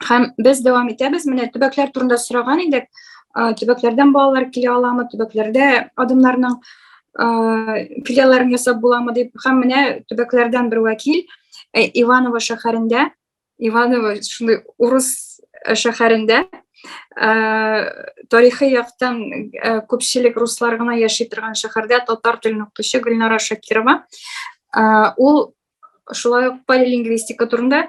Һәм без дәвам итәбез. Менә төбәкләр турында сораган идек. Төбәкләрдән балалар килә аламы? Төбәкләрдә адымнарның филиалларын ясап буламы дип. Һәм менә төбәкләрдән бер вәкил Иваново шәһәрендә Иваново шундый урыс шәһәрендә тарихи яктан күпчелек руслар гына яши торган шәһәрдә татар телен укытучы Гөлнара Шакирова. Ул шулай ук полилингвистика турында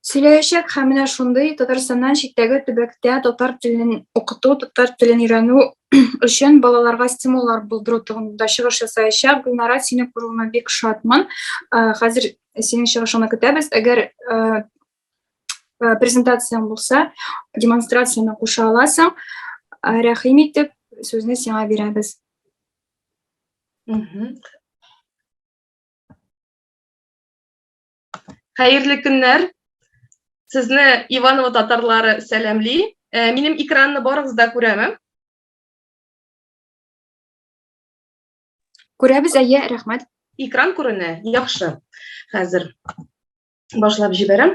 сөйләячәк һәм менә шундый Татарстаннан читтәге төбәктә татар телен укыту, татар телен өйрәнү өчен балаларга стимуллар булдыру турында чыгыш ясаячак. Гөлнара, сине күрүемә бик шатмын. Хәзер Синең чыгышыңны көтәбез. Әгәр презентацияң булса, демонстрацияне куша аласың. Рәхим итеп, сүзне сиңа бирәбез. Хәерле көннәр. Сезне Иваново татарлары сәламли. Минем экранны барыгыз да күрәме? Күрәбез, әйе, рәхмәт. Экран күренә, яхшы. Хәзер башлап җибәрәм.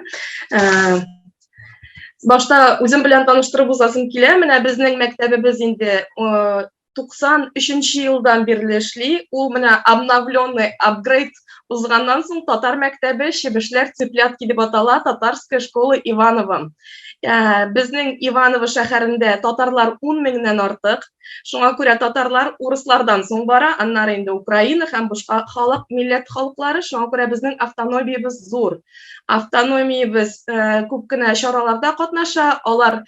Башта үзем белән таныштырып узасым килә. Менә безнең мәктәбебез инде 93-нче елдан бирле эшли. Ул менә обновленный, апгрейд узганнан соң татар мәктәбе Чебешләр цыплятки дип атала, татарская школа Иванова. Безнең Иваново шәһәрендә татарлар 10 меңнән артык. Шуңа күрә татарлар урыслардан соң бара, аннары инде Украина һәм башка халык, милләт халыклары. Шуңа күрә безнең автономиябез зур. Автономиябез э, күп кенә чараларда катнаша, алар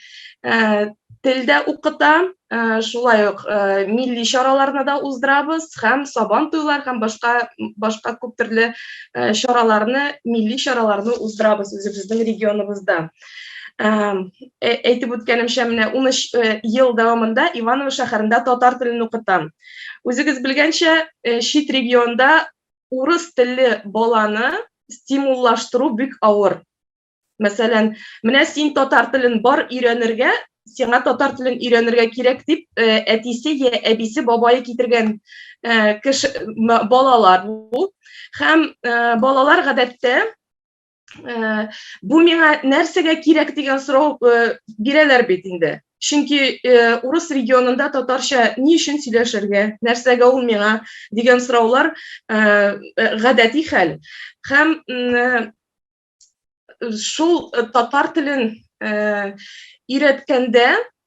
э, тел дә укыта, э, шулай ук милли чараларны да уздырабыз һәм сабан туйлар һәм башка башка күп төрле чараларны, милли чараларны уздырабыз үзебезнең регионыбызда. әйтеп үткәнемчә менә ун өч ел дәвамында иваново шәһәрендә татар телен укытам үзегез белгәнчә чит регионда урыс телле баланы стимуллаштыру бик авыр мәсәлән менә син татар телен бар өйрәнергә сиңа татар телен өйрәнергә кирәк дип әтисе я әбисе бабайы китергән кеше балалар бу һәм балалар гадәттә Э, бу миңа нәрсәгә кирәк дигән сорау э, бирәләр бит инде чөнки э, урыс регионында татарча ни өчен сөйләшергә нәрсәгә ул миңа дигән сораулар гадәти хәл һәм шул татар телен өйрәткәндә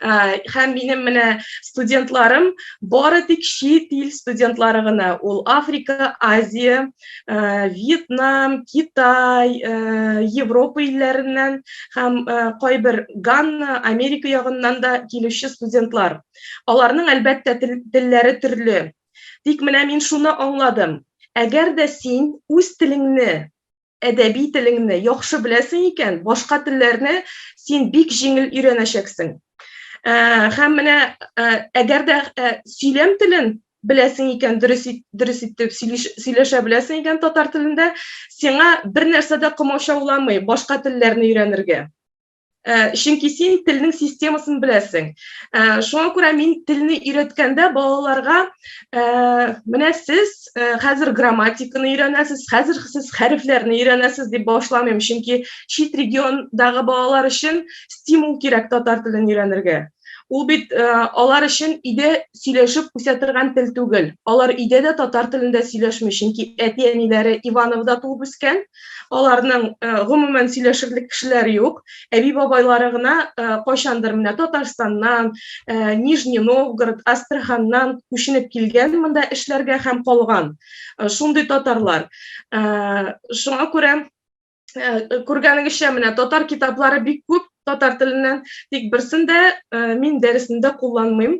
Һәм минем менә студентларым бары тик чит ил студентлары гына. Ул Африка, Азия, Вьетнам, Китай, Европа илләреннән һәм кайбер Ганна, Америка ягыннан да килүче студентлар. Аларның әлбәттә телләре төрле. Тик менә мин шуны аңладым. Әгәр дә син үз телеңне әдәби телеңне яхшы беләсең икән, башка телләрне син бик җиңел өйрәнәчәксең. Ә, һәм менә ә, әгәр дә ә, сөйләм телен беләсең икән, дөрес дөрес итеп сөйләшә беләсең икән татар телендә, сиңа бер нәрсә дә комачауламый башка телләрне өйрәнергә. Э, чөнки син телнең системасын беләсең э, шуңа күрә мин телне өйрәткәндә балаларга э, менә сез хәзер грамматиканы өйрәнәсез хәзер сез хәрефләрне өйрәнәсез дип башламыйм чөнки чит региондагы балалар өчен стимул кирәк татар телен өйрәнергә Ул бит э, алар өчен өйдә сөйләшеп үсә торган тел түгел. Алар өйдә дә татар телендә сөйләшми, чөнки әти-әниләре Ивановда туып үскән. Аларның э, гомумән сөйләшерлек кешеләр юк. Әби-бабайлары гына э, кайчандыр менә Татарстаннан, э, Нижний Новгород, Астраханнан күченеп килгән монда эшләргә һәм калган. Э, шундый татарлар. Э, шуңа күрә Э, күргәнегезчә менә татар китаплары бик күп татар теленнән тик берсен дә э, мин дәресендә кулланмыйм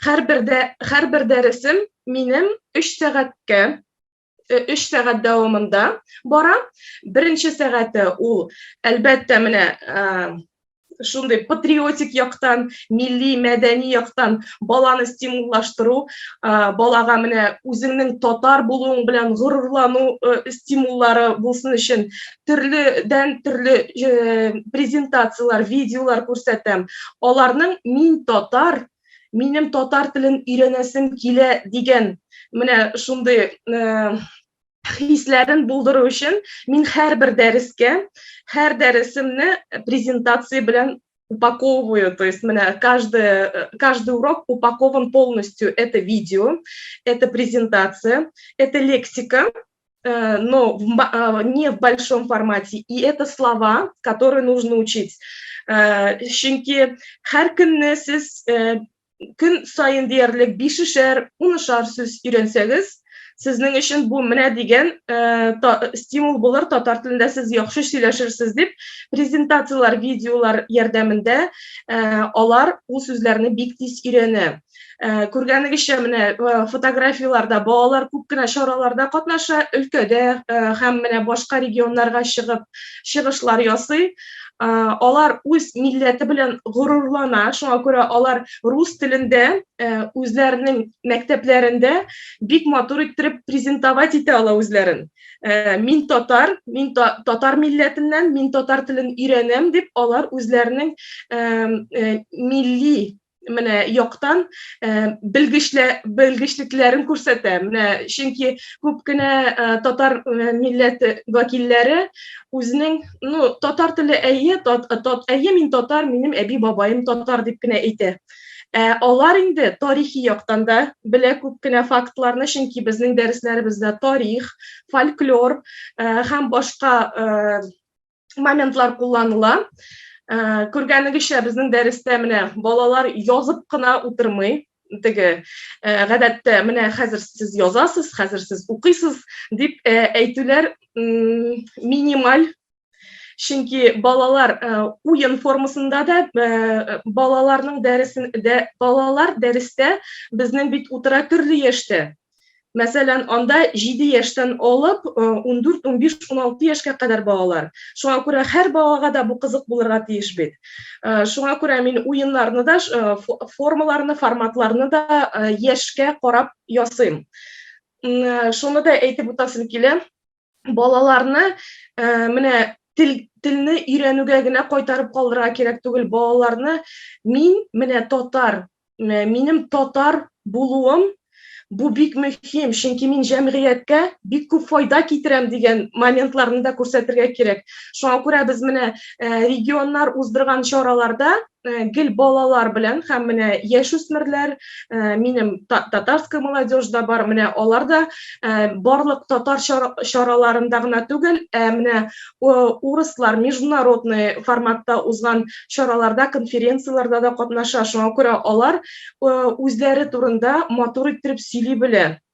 һәрбер дә һәрбер дәресем минем өч сәгатькә э, өч сәгать дәвамында бара беренче сәгате ул әлбәттә менә шундый патриотик яктан, милли, мәдәни яктан баланы стимуллаштыру, балага менә үзеңнең татар булуың белән горурлану стимуллары булсын өчен төрледән төрле презентацияләр, видеолар күрсәтәм. Аларның мин татар минем татар телен өйрәнәсем килә дигән менә шундый хисләрен булдыру өчен мин һәрбер дәрескә, һәр дәресемне презентация белән упаковываю, то есть менә каждый, каждый урок упакован полностью. Это видео, это презентация, это лексика, э, но в, э, не в большом формате, и это слова, которые нужно учить. Э, чөнки һәр көнне сез көн саен диярлек бишешәр, унышар сүз өйрәнсәгез, сезнең өчен бу менә дигән э, та, стимул булыр, татар телендә сез яхшы сөйләшерсез дип, презентацияләр, видеолар ярдәмендә э, алар ул сүзләрне бик тиз өйрәнә. Э, күргәнегезчә менә э, фотографияләрдә балалар күп кенә чараларда катнаша, өлкәдә э, һәм менә башка регионнарга чыгып чыгышлар ясый. алар үз милләте белән горурлана шуңа күрә алар рус телендә үзләренең мәктәпләрендә бик матур иттереп презентовать итә ала үзләрен мин татар мин татар милләтеннән мин татар телен өйрәнәм дип алар үзләренең милли менә яктан э, белгечлекләрен күрсәтә. Менә чөнки күп кенә э, татар э, милләте вәкилләре үзенең, ну, татар теле әйе, тат, тат, әйе мин татар, минем әби бабаем татар дип кенә әйтә. Ә алар инде тарихи яктан да белә күп кенә фактларны, чөнки безнең дәресләребездә тарих, фольклор э, һәм башка э, моментлар кулланыла. Э, Күргәнегезчә, безнең дәрестә менә балалар язып кына утырмый, теге э, гадәттә менә хәзер сез язасыз, хәзер сез укыйсыз дип э, әйтүләр минималь чөнки балалар уен формасында да балаларның дәресен дә балалар дәрестә безнең бит утыра төрле яшьтә Мәсәлән, анда 7 яшьтән алып 14, 15, 16 яшькә кадәр балалар. Шуңа күрә һәр балага да бу кызык булырга тиеш бит. Шуңа күрә мин уеннарны да, формаларны, форматларны да яшькә карап ясыйм. Шуны да әйтеп утасым килә, балаларны ә, менә тел телне өйрәнүгә генә кайтарып калдырырга кирәк түгел балаларны мин менә татар минем татар булуым бу бик мөһим чөнки мин җәмгыятькә бик күп файда китерәм дигән моментларны да күрсәтергә кирәк шуңа күрә без менә регионнар уздырган чараларда Э, гел балалар белән һәм менә яшүсмерләр э, минем татарская молодежь да бар менә алар да э, барлык татар чараларында гына түгел ә менә урыслар международный форматта узган чараларда конференцияләрдә дә катнаша шуңа күрә алар үзләре турында матур иттереп сөйли белә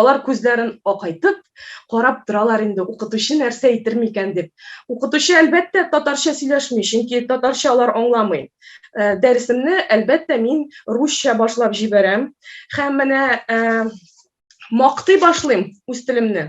Алар күзләрен акайтып, карап торалар инде, укытучы нәрсә әйтер микән дип. Укытучы, әлбәттә, татарча сөйләшми, чөнки татарча алар аңламый. Дәресемне, әлбәттә, мин русча башлап җибәрәм һәм менә мактый башлыйм үз телемне.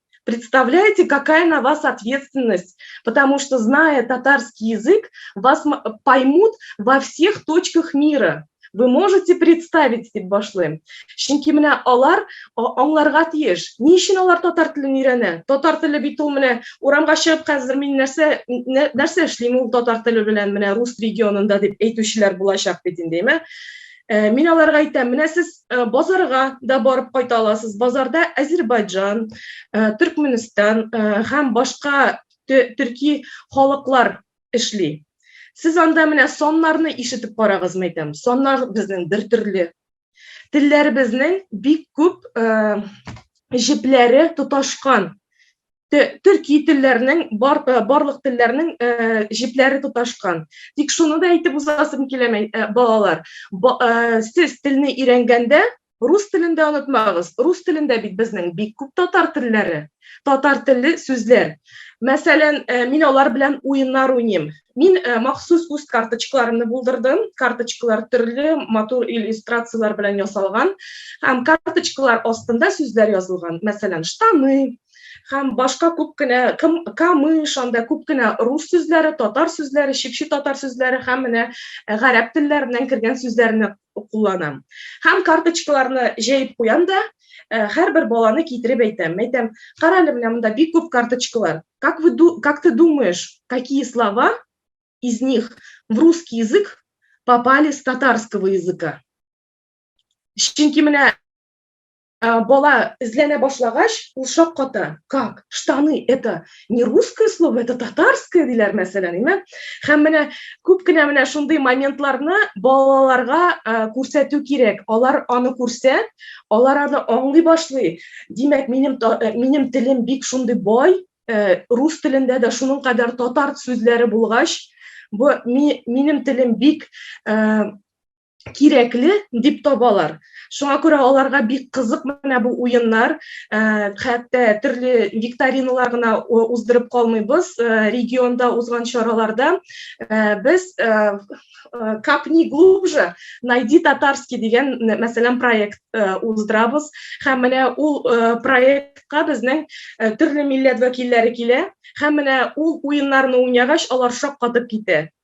Представляете, какая на вас ответственность, потому что, зная татарский язык, вас поймут во всех точках мира. Вы можете представить, дип башлыйм. Чөнки менә алар аңларга тиеш. Ни өчен алар татар телен өйрәнә? Татар теле бит ул менә урамга чыгып хәзер мин нәрсә нәрсә эшлим ул татар теле белән менә рус регионында дип әйтүчеләр булачак бит инде, әйме? Э, мин аларга әйтәм, менә сез э, базарга да барып кайта аласыз. Базарда Азербайджан, э, Төркменстан һәм башка төрки халыклар эшли. Сез анда менә саннарны ишетеп карагыз, мәйтәм. Саннар безнең бер төрле. Телләребезнең бик күп җепләре тоташкан. төрки телләрнең бар, э, барлык телләрнең э, җепләре тоташкан. Тик шуны да әйтеп узасым килә, э, балалар. Ба, э, сез телне өйрәнгәндә рус телен дә онытмагыз. Рус телендә бит безнең бик күп татар телләре, татар телле сүзләр. Мәсәлән, э, мин алар белән уеннар уйныйм. Мин э, махсус үз карточкаларымны булдырдым. Карточкалар төрле матур иллюстрацияләр белән ясалган. Һәм карточкалар астында сүзләр язылган. Мәсәлән, штаны, һәм башка күп кенә камыш анда күп кенә рус сүзләре татар сүзләре чикче татар сүзләре һәм менә э, гарәп телләреннән кергән сүзләрне кулланам һәм карточкаларны җәеп куям да э, һәрбер баланы китереп әйтәм әйтәм кара әле менә монда бик күп карточкалар как вы как ты думаешь какие слова из них в русский язык попали с татарского языка чөнки менә А, бала эзләнә башлагач, ул шакката. Как? Штаны это не русское слово, это татарское диләр мәсәлән, әйме? Һәм менә күп кенә менә шундый моментларны балаларга а, күрсәтү кирәк. Алар аны күрсә, алар аны аңлый башлый. Димәк, минем э, минем телем бик шундый бай, э, рус телендә дә шуның кадәр татар сүзләре булгач, бу минем телем бик э, кирәкле дип табалар. Шуңа күрә аларга бик кызык менә бу уеннар, э, хәтта төрле викториналар гына уздырып калмыйбыз. Э, регионда узган чараларда э, без капни глубже найди татарский дигән мәсәлән проект уздырабыз һәм менә ул проектка безнең төрле милләт вәкилләре килә һәм менә ул уеннарны уйнагач алар шаккатып китә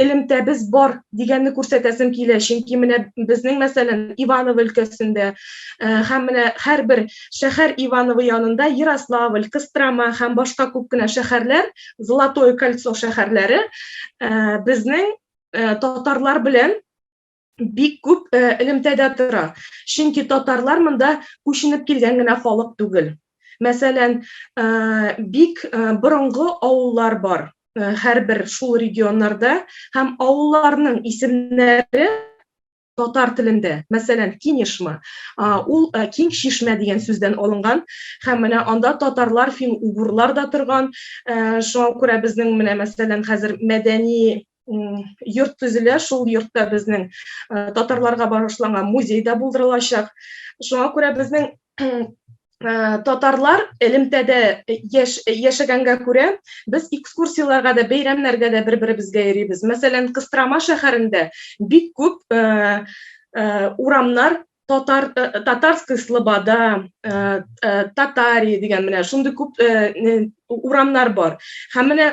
элемтәбез бар дигәнне күрсәтәсем килә чөнки менә безнең мәсәлән иваново өлкәсендә э, һәм менә һәрбер шәһәр иваново янында ярославль кострома һәм башка күп кенә шәһәрләр золотое кольцо шәһәрләре э, безнең э, татарлар белән бик күп элемтәдә тора. Чөнки татарлар монда күченеп килгән генә халык түгел. Мәсәлән, бик борынгы авыллар бар һәрбер шул регионнарда һәм авылларның исемнәре татар телендә, мәсәлән, Кинешма, ул киң чишмә дигән сүздән алынган, һәм менә анда татарлар, фин-угурлар да торган. Шуңа күрә безнең менә мәсәлән хәзер мәдәни йорт төзелә, шул йортта безнең татарларга багышланган музей да булдырылачак. Шуңа күрә безнең Э, татарлар элемтәдә э, яш, э, яшәгәнгә күрә без экскурсияләргә дә бәйрәмнәргә дә бер беребезгә йөрибез мәсәлән кыстрама шәһәрендә бик күп ә, ә, урамнар татар татарская слобода ә, ә, татари дигән менә шундый күп ә, урамнар бар һәм менә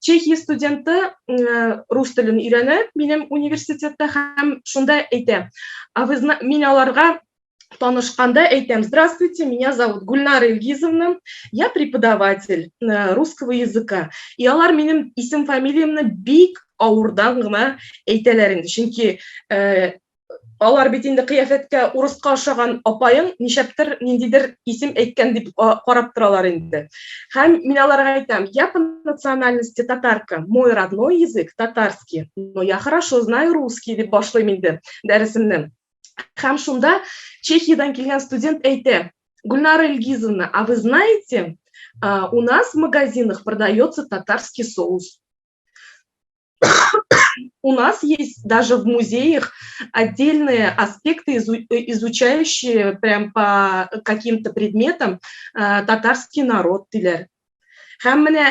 Чехия студенты рус телен өйрәнә минем университетта һәм шунда әйтә. А вы мин аларга танышканда әйтәм, здравствуйте, меня зовут Гульнара Илгизовна, я преподаватель э, русского языка. И алар минем исем фамилиямны бик авырдан гына әйтәләр инде, чөнки э, алар бит инде кыяфәткә урыска ошаган апаең ничәптер ниндидер исем әйткән дип карап торалар инде. Һәм мин аларга әйтәм, я по национальности татарка, мой родной язык татарский, но я хорошо знаю русский дип башлыйм инде дәресемне. Һәм шунда Чехиядән килгән студент әйтә, Гульнара Илгизовна, а вы знаете, у нас в магазинах продается татарский соус. У нас есть даже в музеях отдельные аспекты, э, изучающие прям по каким-то предметам э, татарский народ диләр. Һәм менә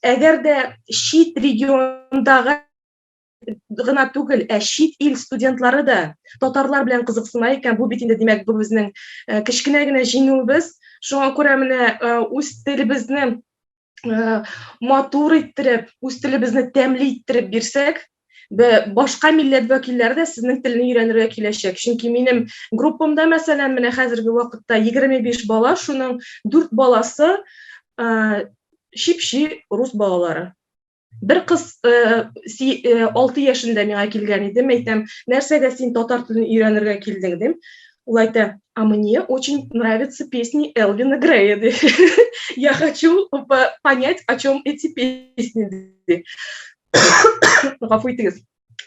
әгәр дә чит региондагы гына түгел, ә чит ил студентлары да татарлар белән кызыксына икән, бу бит инде димәк бу безнең э, кечкенә генә җиңүебез. Шуңа күрә менә үз телебезне ә, матур иттереп үз телебезне тәмле иттереп бирсәк башка милләт вәкилләре дә сезнең телне өйрәнергә киләчәк чөнки минем группамда мәсәлән менә хәзерге вакытта егерме биш бала шуның дүрт баласы ә, чипчи рус балалары бер кыз алты яшендә миңа килгән иде әйтәм нәрсәгә син татар телен өйрәнергә килдең дим ул әйтә а мне очень нравятся песни элвина грея ди я хочу понять о чем эти песни ди гафу итегез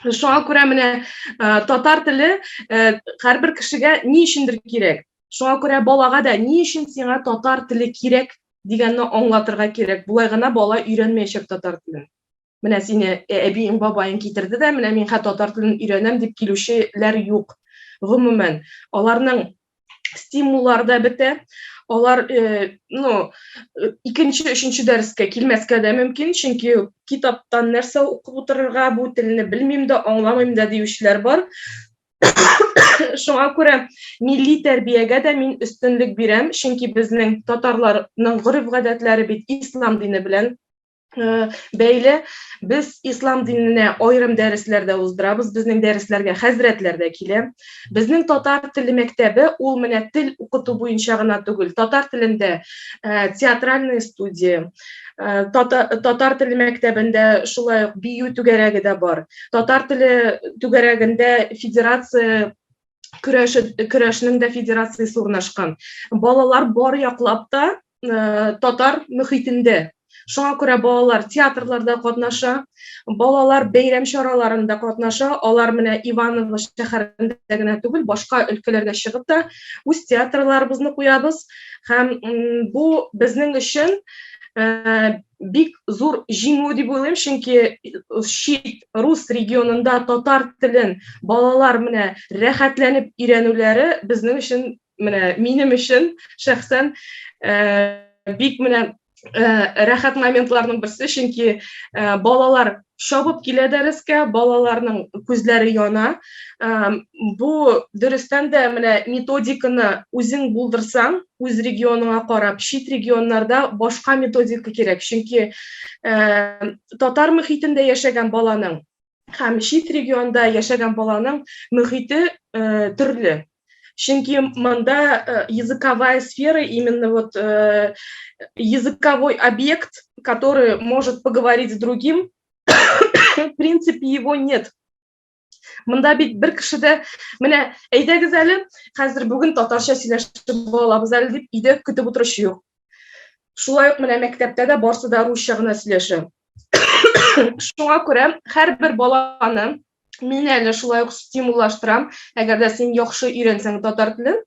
шуңа күрә менә татар теле һәрбер кешегә ни өчендер кирәк Шуңа күрә балага да ни өчен сиңа татар теле кирәк дигәнне аңлатырга кирәк. Болай гына бала өйрәнмәячәк татар телен. Менә сине э, әбиең, бабаең китерде дә, менә мин хә татар телен өйрәнәм дип килүчеләр юк. Гомумән, аларның стимуллары да бетә. Алар, э, ну, э, икенче, өченче дәрескә килмәскә дә мөмкин, чөнки китаптан нәрсә укып утырырга, бу телне белмим дә, аңламыйм да диючеләр бар. Шуңа күрә милли тәрбиягә дә мин өстенлек бирәм, чөнки безнең татарларның гореф-гадәтләре бит ислам дине белән бәйле. Без ислам диненә аерым дәресләр дә уздырабыз, безнең дәресләргә хәзрәтләр дә килә. Безнең татар теле мәктәбе ул менә тел укыту буенча гына түгел, татар телендә театральная студия, Э, татар теле мәктәбендә шулай ук бию түгәрәге дә бар. Татар теле түгәрәгендә федерация көрәше көрәшнең дә федерациясе урнашкан. Балалар бар яклап та э, татар мөхитендә. Шуңа күрә балалар театрларда катнаша, Балалар бәйрәм чараларында катнаша, алар менә Иваново шәһәрендә генә түгел, башка өлкәләргә чыгып та үз театрларыбызны куябыз һәм бу безнең өчен бик зур җиңү дип уйлыйм, чөнки чит рус регионында татар телен балалар менә рәхәтләнеп өйрәнүләре безнең өчен менә минем өчен шәхсән бик менә Э, рәхәт моментларның берсе чөнки э, балалар шабып килә дәрескә балаларның күзләре яна э, бу дөрестән дә менә методиканы үзең булдырсаң үз регионыңа карап чит регионнарда башка методика кирәк чөнки татар мөхитендә яшәгән баланың һәм чит регионда яшәгән баланың мөхите төрле чөнки монда языковая сфера именно вот языковой объект который может поговорить с другим в принципе его нет мында бит бер кеше дә менә әйдәгез әле хәзер бүген татарча сөйләшеп бала әле дип өйдә көтеп утыручы юк Шулай ук менә мәктәптә дә барсы да русча гына сөйләшә. Шуңа күрә һәрбер баланы мин әле шулай ук стимуллаштырам. Әгәр дә син яхшы өйрәнсәң татар телен,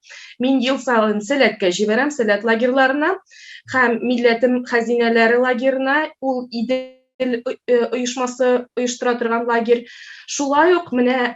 мин ел саен сәләткә җибәрәм, сәләт лагерьларына һәм милләтем хәзинәләре лагерына. Ул иде оешмасы оештыра торган лагерь. Шулай ук менә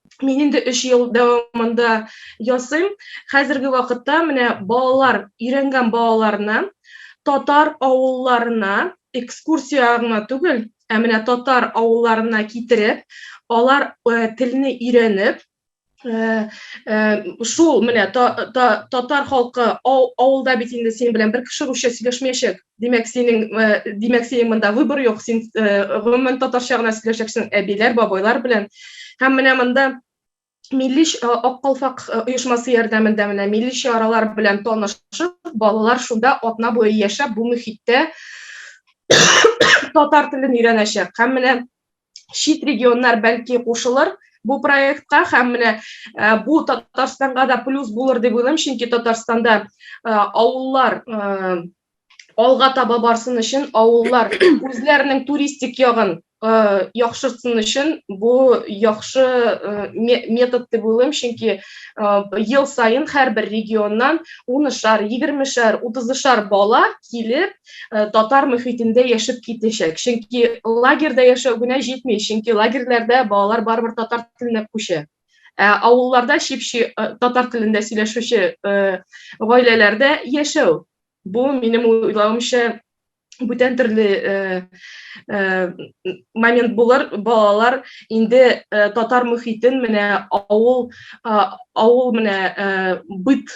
Мин инде 3 ел дәвамында ясыйм. Хәзерге вакытта менә балалар, өйрәнгән балаларны татар авылларына экскурсия гына түгел, ә менә татар авылларына китереп, алар э, телне өйрәнеп, э, э, шул менә татар халкы авылда бит инде синең белән бер кеше русча сөйләшмәячәк. Димәк, синең, э, димәк, синең монда выбор юк, син э, гомумән татарча гына сөйләшәксең әбиләр, бабайлар белән. Һәм менә монда милли э, ак калфак оешмасы ярдәмендә менә милли чаралар белән танышып, балалар шунда атна буе яшәп, бу мөхиттә татар телен өйрәнәчәк. Һәм менә чит регионнар бәлки кушылыр бу проектка һәм менә э, бу татарстанга да плюс булыр дип уйлыйм чөнки татарстанда э, авыллар э, алга таба барсын өчен авыллар үзләренең туристик ягын яхшыртсын өчен бу яхшы метод дип уйлыйм чөнки ел саен һәрбер регионнан унышар егермешәр утызышар бала килеп э, татар мөхитендә яшәп китәчәк. Чөнки лагерьда яшәү генә җитми, чөнки лагерьләрдә балалар барыбер татар теленә күчә. Ә авылларда чипчи э, татар телендә сөйләшүче э, гаиләләрдә яшәү. Бу минем уйлавымча бүтән төрле э, э, момент булыр балалар инде э, татар мөхитен менә авыл э, авыл менә э, быт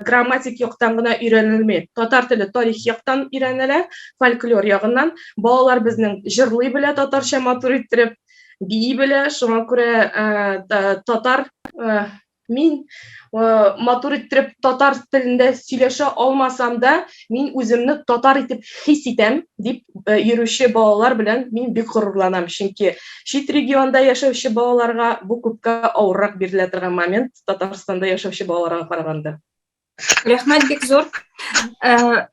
грамматик яктан гына өйрәнелми. Татар теле тарих яктан өйрәнелә, фольклор ягыннан. Балалар безнең җырлый белә татарча матур иттереп, бии белә. Шуңа күрә э, татар э, мин э, матур иттереп татар телендә сөйләшә алмасам да, Мин үземне татар итеп хис итәм, дип э, йөрүче балалар белән мин бик горурланам, чөнки чит регионда яшәүче балаларга бу күпкә авыррак бирелә торган момент Татарстанда яшәүче балаларга караганда. Рәхмәт бик зур. Э,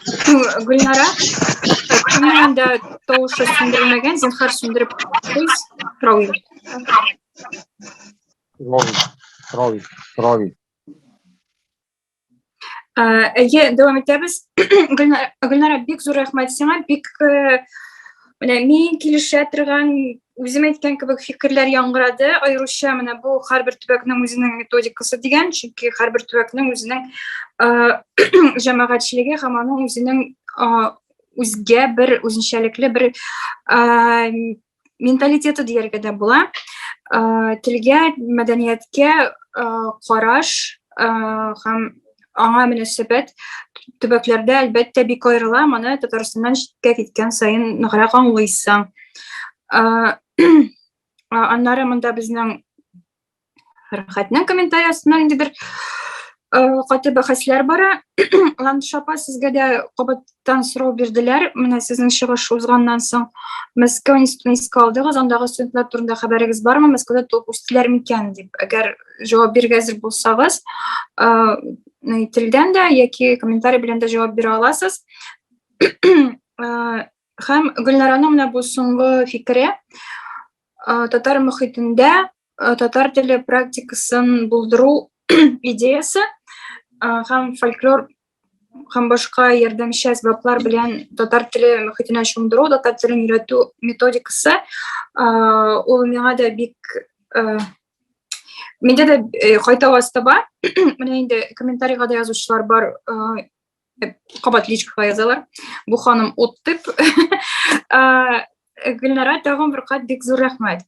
Гөлнара, кемнең инде тавышы сүндерелмәгән, зинһар сүндереп куйс, Рауил. Рауил, Рауил, Рауил. Әйе, дәвам итәбез. Гөлнара, бик зур рәхмәт сиңа. Бик э, менә мин килешә торган үзем әйткән кебек фикерләр яңгырады. Аеруча менә бу һәрбер төбәкнең үзенең методикасы дигән, чөнки һәрбер төбәкнең үзенең э, җәмәгатьчелеге һәм аның үзенең э, үзгә бер үзенчәлекле бер менталитеты дияргә дә була. Э, телгә, мәдәнияткә э, караш э, һәм аңа мөнәсәбәт төбәкләрдә әлбәттә бик аерыла. Моны Татарстаннан читкә киткән саен ныграк аңлыйсың. Аннары монда безнең Рәхәтнең комментарий астына инде бер каты бәхәсләр бара. Ландыш апа, сезгә дә кабаттан сорау бирделәр. Менә сезнең чыгыш узганнан соң Мәскәү институтын искә алдыгыз, андагы студентлар турында хәбәрегез бармы? Мәскәүдә туып үстеләр микән дип. Әгәр җавап бирергә әзер булсагыз, әйтелгән дә яки комментарий белән дә җавап бирә аласыз. Һәм Гөлнараның менә бу соңгы фикере. татар мөхитендә татар теле практикасын булдыру идеясы һәм фольклор һәм башка ярдәмче әсбаплар белән татар теле мөхитенә чумдыру, татар телен өйрәтү методикасы ул миңа да бик миндә дә кайта ваз таба. Менә инде комментарийга да язучылар бар, кабат личкага язалар бу ханым ут дип гөлнара тагын бер кат бик зур рәхмәт